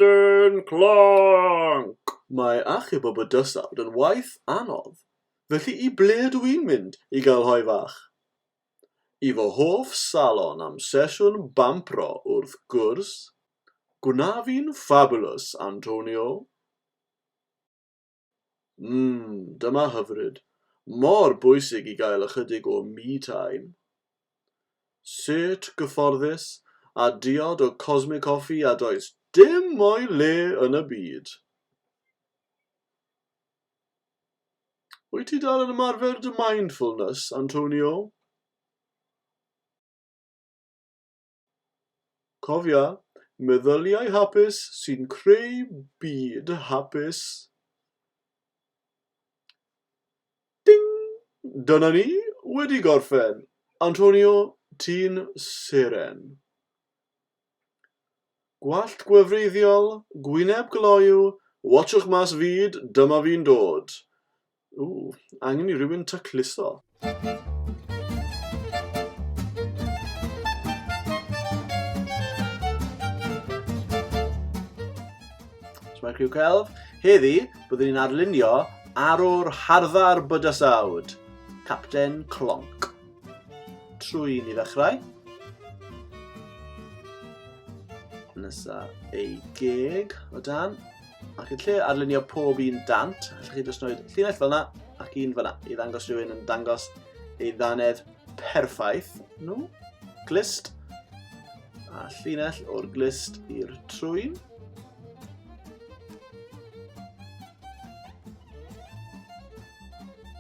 Capten Clonc! Mae achub y bydysawd yn waith anodd, felly i ble ydw i'n mynd i gael hoe fach? I fy hoff salon am sesiwn bampro, wrth gwrs! Gwna fi'n fabulous, Antonio! Mmm, dyma hyfryd. Mor bwysig i gael ychydig o me time. Sut gyfforddus a diod o Cosmic Coffee a does dim o'i le yn y byd. Wyt ti dal yn ymarfer dy mindfulness, Antonio? Cofia, meddyliau hapus sy'n creu byd hapus. Ding! Dyna ni, wedi gorffen! Antonio, ti'n seren. Gwallt gwefreiddiol, gwyneb gloyw, watsiwch mas fyd, dyma fi'n dod. Ww, angen i rywun tacluso. Sma'r criw celf. Heddi, byddwn ni'n arlunio arwr harddar bydysawd, Capten Clonc. Trwy ni ddechrau. Nesa ei geg o dan. Ac yn lle arlunio pob un dant, allwch chi jyst wneud llinell fel yna ac un fel yna i ddangos rhywun yn dangos ei ddanedd perffaith. No. Glist. A llinell o'r glist i'r trwyn.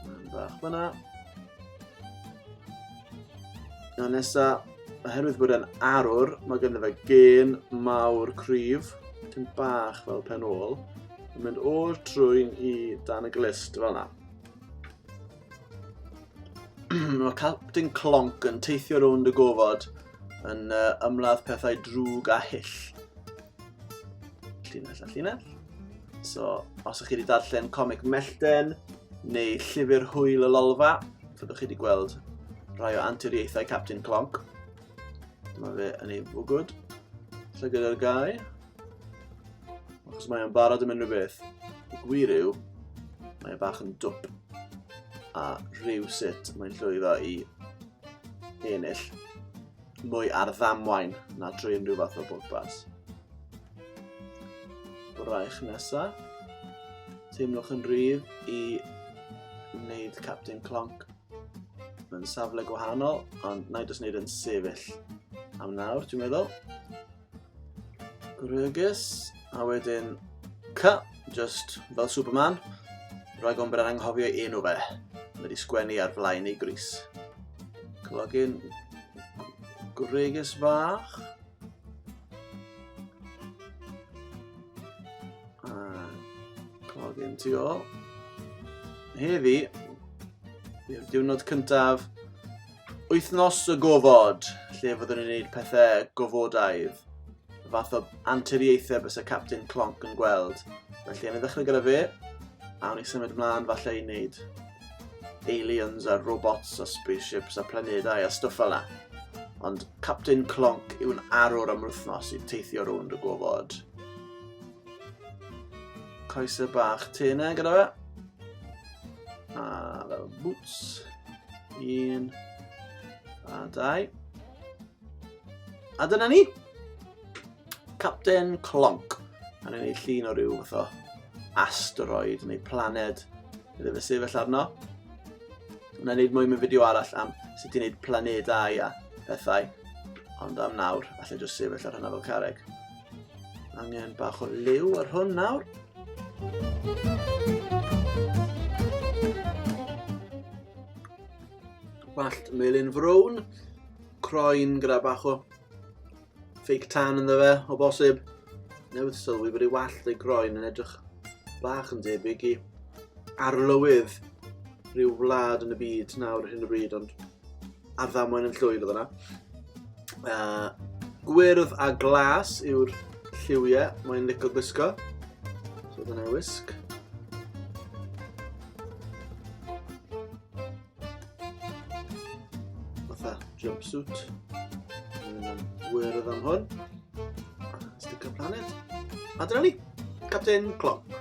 Mae'n bach fyna. A nesaf, Oherwydd bod e'n arwr, mae ganddo fe gên mawr cryf, tyn bach fel pen ôl, yn mynd o'r trwy'n i dan y glist fel yna. mae Captain Clonc yn teithio rownd y gofod yn uh, ymladd pethau drwg a hyll. Llinell a llinell. So, os ych chi wedi darllen comic Mellten neu llyfr Hwyl y Lolfa, fyddwch chi wedi gweld rhai o anturiaethau Captain Clonc. Dyma fe yn ei fwgwd. Llygad ar gau. Achos mae o'n barod am unrhyw beth. Y gwir yw, mae e bach yn dwp. A rhyw sut mae'n llwyddo i ennill mwy ar ddamwain na drwy unrhyw fath o bwrpas. Braich nesa. Teimlwch yn rhydd i wneud Captain Clonc mewn safle gwahanol, ond na i jyst wneud yn sefyll am nawr, dwi'n meddwl. Gwrygus, a wedyn Cy, just fel Superman, rhaid o'n bod yn anghofio enw fe. Mae wedi sgwennu ar flaen ei gris. Clogyn gwrygus fach. Clogyn tu ôl. Heddi, yw'r diwrnod cyntaf wythnos y gofod, lle fyddwn ni'n gwneud pethau gofodaidd. Y fath o anturiaethau bys y Captain Clonc yn gweld. Felly, yn ei ddechrau gyda fe, a wni symud ymlaen falle i wneud aliens a robots a spaceships a planedau a stwff fel Ond Captain Clonc yw'n arwr am wythnos i teithio rownd y gofod. Coesau bach te yna gyda fe. A fel boots. Un. A dau. A dyna ni. Captain Clonc. A ni'n ei llun o ryw fath o asteroid neu planed iddo fe sefyll arno. Wna i wneud mwy mewn fideo arall am sut i wneud planedau a pethau. Ond am nawr, allai jyst sefyll ar hynna fel careg. Angen bach o liw ar hwn nawr. Wallt melyn frown. Croen gyda bach o fake tan ynddo fe, o bosib. Newydd sylwi bod ei wallt ei groen yn edrych bach yn debyg i arlywydd rhyw wlad yn y byd nawr hyn o bryd, ond ar ddamwain yn llwyd oedd yna. Uh, gwyrdd a glas yw'r lliwiau, mae'n licio gwisgo. So dyna wisg. fatha jumpsuit. Mae'n am wyrdd am hwn. Stick a planet. A dyna ni, Captain Clonk.